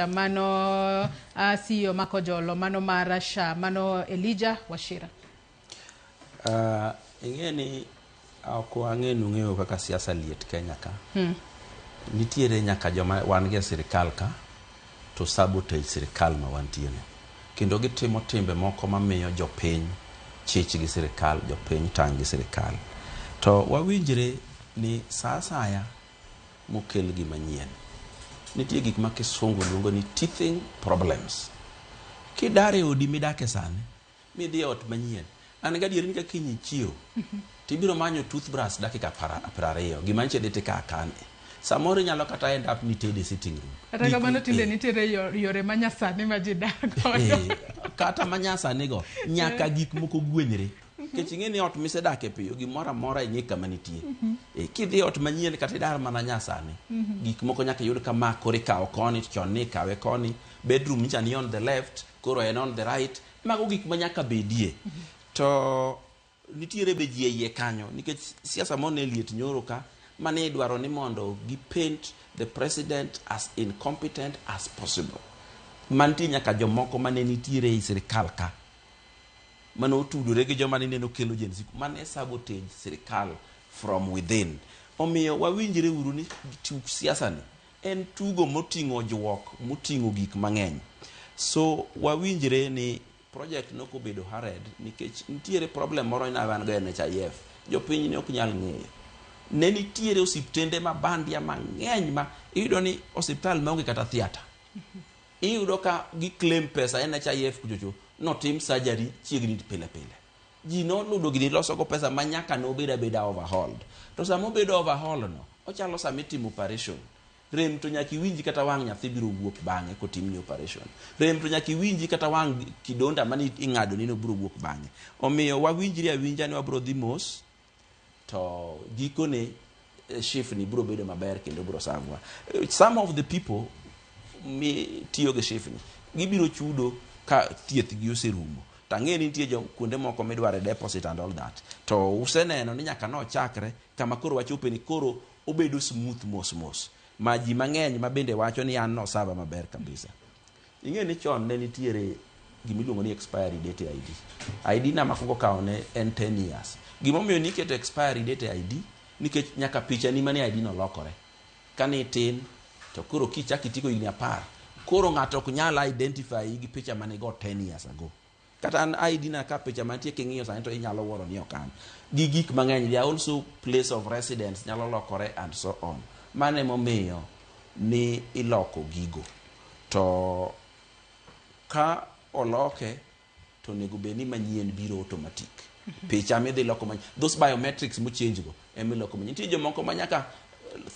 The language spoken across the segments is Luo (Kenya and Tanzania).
Mano uh, CEO mako jolo mano mar Rasha mano Elija Washira. Uh, ing'e ni ok wang'e nung'eyo kaka siasa liet Kenya ka. Hmm. Nitiere nyaka joma wan gi sirikal ka to sabotage sirikal ma wantie ni. Kendo gitimo timbe moko mamiyo jopiny chich gi sirikal, jopiny tang' gi sirikal. To wawinjre ni saa asaya mokel gima nyien. Nitie gik ma kisungu luongo ni teething problems. Kidar e odi midake sani, midhi e ot manyien, an gadier ni ka kiny ichiew, tibiro manyo toothbrush dakika piero ariyo, gima nyicha idhi tikaa kane. Samoro inyalo kata end up ni itede e sitting room. Kata kamano tinde eh. nitiere yore manyasani ma ji dak godo. Eh, kata manyasanigo, nyaka eh. gik moko gwenyre. Nikech ing'e ni ot misedake piyo gimoro amora ing'e kama nitie. E, kidhi ot manyien kata idar mana nyasani, gik moko nyaka iyud ka ma koro ikawo koni to chon ni ikawe koni, bedroom nyicha ni on the left, koro en on the right. Mago gik ma nyaka bedie. To nitiere be ji e iye kanyo nikech siasa moro ne liet nyoro ka mane idwaro ni mondo gi paint the president as incompetent as possible. Mantie nyaka jomoko mane nitiere e sirkal ka mane otudore gi joma nineno kelo Gen Z, mano e sabotage sirkal from within. Omiyo wawinjre uru ni tuk siasa ni en tugo moting'o ojuok, moting'o gik mang'eny. So wawinjre ni project no kobedo hurried nikech nitiere problem moro ina wan go e NHIF. Jopiny ne ok nyal ng'eyo. Ne nitiere osiptende ma bandia mang'eny ma iyudo ni osiptal maonge kata theater. Iyudo ka gi claim pesa NHIF kuchocho notim surgery chiegni pile pile. Ji noludo gini loso go pesa ma nyaka ne obed abeda overhauled. To sama obedo overhauled no, ochalo sama itimo operation. Rem to nyaka iwinji kata wang' nyathi biro wuok bang'e kotimni operation. Rem to nyaka iwinji kata wang' kidonda mane ing'adoni no biro wuok bang'e. Omiyo wawinjre awinja ni wabiro dhi mos. to gikone eh, shifni biro bedo maber kendo biro sangwa Eh, some of the people mi tiyo gi shifni gibiro chudo ka thieth gi oserumo to ang'e ni nitie jo kuonde moko midwaro e deposit and all that to useneno ni nyaka nochakre kama koro wachope ni koro obedo smooth mos mos ma ji mang'eny ma bende wacho ni an nosava maber kabisa Ing'eyo ni chon ne nitiere gima iluongo ni expiry date e ID. ID na makwongo kawo ne en 10 years. Gima omiyo niketo expiry date e ID nikech nyaka pichani manie ID no lokore. Kane itin to koro kichako itigo higni apar, koro ng'ato ok nyal identify gi picha mane igo 10 years ago. Kata an ID na ka picha mantie king'iyo sani to inyalo wuoro ni ok an. Gi gik mang'eny, they are also place of residence nyalo lokore and so on. Mano emomiyo ni iloko gigo. To ka oloke to onego bed ni manyien biro automatic. Picha midhi loko manyien. Those biometrics mo change go emiloko manyien. Nitie jomoko ma nyaka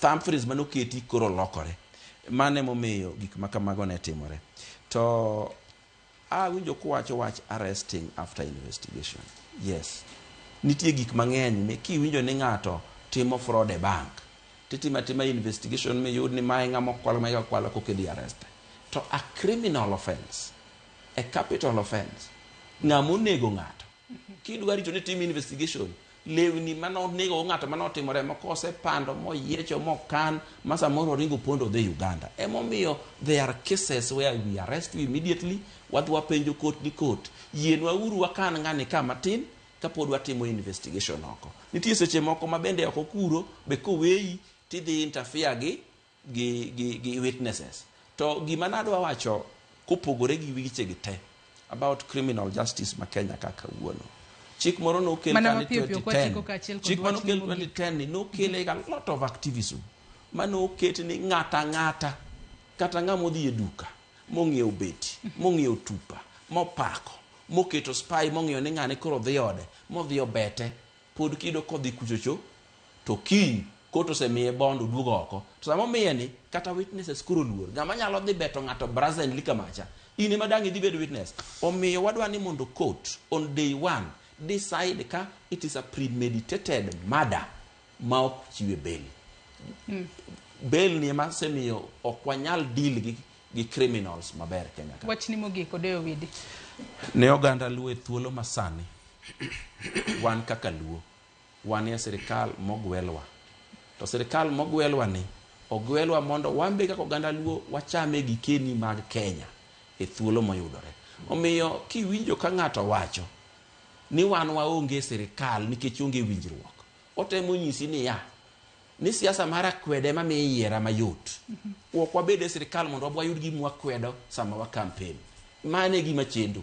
thumb phrase mane oketi koro lokore. Mano emomiyo gik ma kamago ne timore. To Awinjo kuwacho wach arresting after investigation. Yes. Nitie gik mang'eny mi kiwinjo ni ng'ato timo fraud e bank titimo atima investigation miyud ni mae ng'ama okwalo mae kaka kwalo koka idhi arreste. To a criminal offence, a capital offence, ng'ama onego ng'ato. Kidwa rito ni tim investigation, lewni mane onego go ng'ato mane otimore ma kosepando moyiecho mokan ma samoro oringo pondo odhi Uganda. Emomiyo there are cases where we arrest you immediately, wadhi wapenjo court ni court, yienwa uru wakan ng'ani ka matin kapod watimo investigation oko. Nitie seche moko ma bende oko kuro be koweyi tidhi interfere gi gi, gi, gi witnesses. To gima nadwa wacho kopogore gi wechegi te about criminal justice ma Kenya ka kawuono. Chik moro nokel Mana ka ni mapiyo piyo kwa chiko 2010. kaachiel kod Chik moro wachni nokel mogik. 2010 ni nokele a lot of activism ma noket ni ng'ato ang'ata kata ng'ama odhi e duka mong'iewo beti mong'iewo tupa mopako moketo spy mong'iyo ni ng'ane koro dhi ode modhi obete pod kido kodhi kuchocho to kiny kot osemiye bond oduogo oko to sama omiye ni kata witnesses koro luor ng'ama nyalo dhi beto ng'ato brazenly kamacha in ema dang' idhi bedo witness omiyo wadwa ni mondo court on day one decide ka it is a premeditated murder ma ok chiwe bail mm. bail ni ema semiyo ok wanyal deal gi gi criminals maber Kenya ka wachni mogik odeyo widi ne oganda luo e thuolo masani Wan kaka Luo wanie sirikal mogwelwa. To sirikal mogwelwa ni ogwelwa mondo wan be kaka oganda Luo wacham e gikeni mag Kenya e thuolo moyudore. Omiyo kiwinjo ka ng'ato wacho ni wan waonge e sirikal nikech onge winjruok, otemo nyisi niya, ni siasa mar akwede ema miyo iyiera mayot. Ok wabed e sirikal mondo wayud gima wakwedo sama wa kampen. Mano e gima chendo.